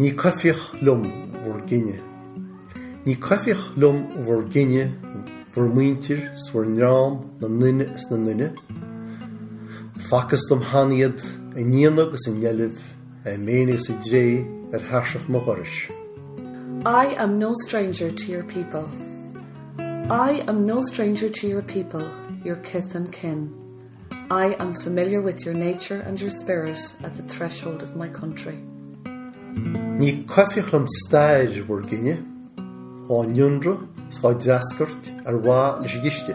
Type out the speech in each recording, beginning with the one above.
Ní coimhthíoch liom bhur gcine. Ní coimhthíoch liom bhur gcine, bhur muintir 's bhur ndream, na nduine is na nduine, Facthas dom cheana iad, i ndéanamh 'gus i ndeilbh, i méin is i dtreo ar thairseach mo dhorais. I am no stranger to your people. I am no stranger to your people, your kith and kin. I am familiar with your nature and your spirit at the threshold of my country. Ní coimhthíoch liom stair bhur gcine, á n-ionradh 's á dtreascairt ar mhaithe leis an gciste.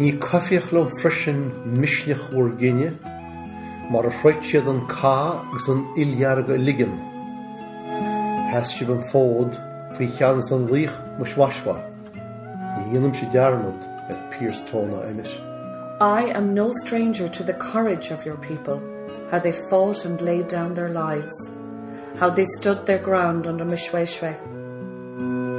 Ní coimhthíoch liom freisin misneach bhur gcine, mar a throid siad an cath agus an fhuil dhearg a ligean. Sheas sibh an fód faoi cheannas an laoich Moshoeshoe. Ní dhéanaimse dearmad ar Pearse, Tone ná Emmet. I am no stranger to the courage of your people, how they fought and laid down their lives, how they stood their ground under Moshoeshoe.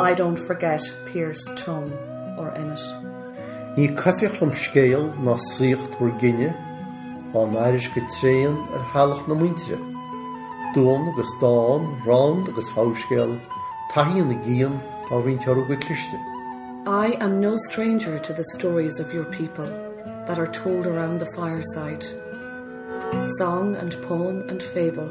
I don't forget Pearse Tone or Emmet. Ní coimhthíoch liom scéal ná saíocht bhur gcine, á n-aithris go tréan ar theallach na muintire, duan agus dán, rann agus fabhscéal, taithí na gcian á roinnt orthu go cliste. I am no stranger to the stories of your people that are told around the fireside, song and poem and fable,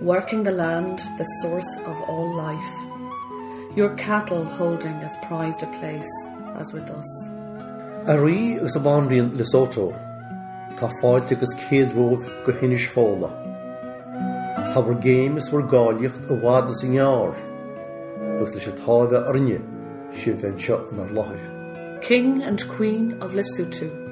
Working the land, the source of all life, Your cattle holding as prized a place as with us. A Rí agus a Bhanríon Lesotho, tá fáilte agus céad romhaibh go hInis Fódhla. Tá bhur gcéim is bhur gcáilíocht i bhfad is i ngearr, agus leis an táimhe a rinne sibh bheith anseo inár láthair. King and Queen of Lesotho.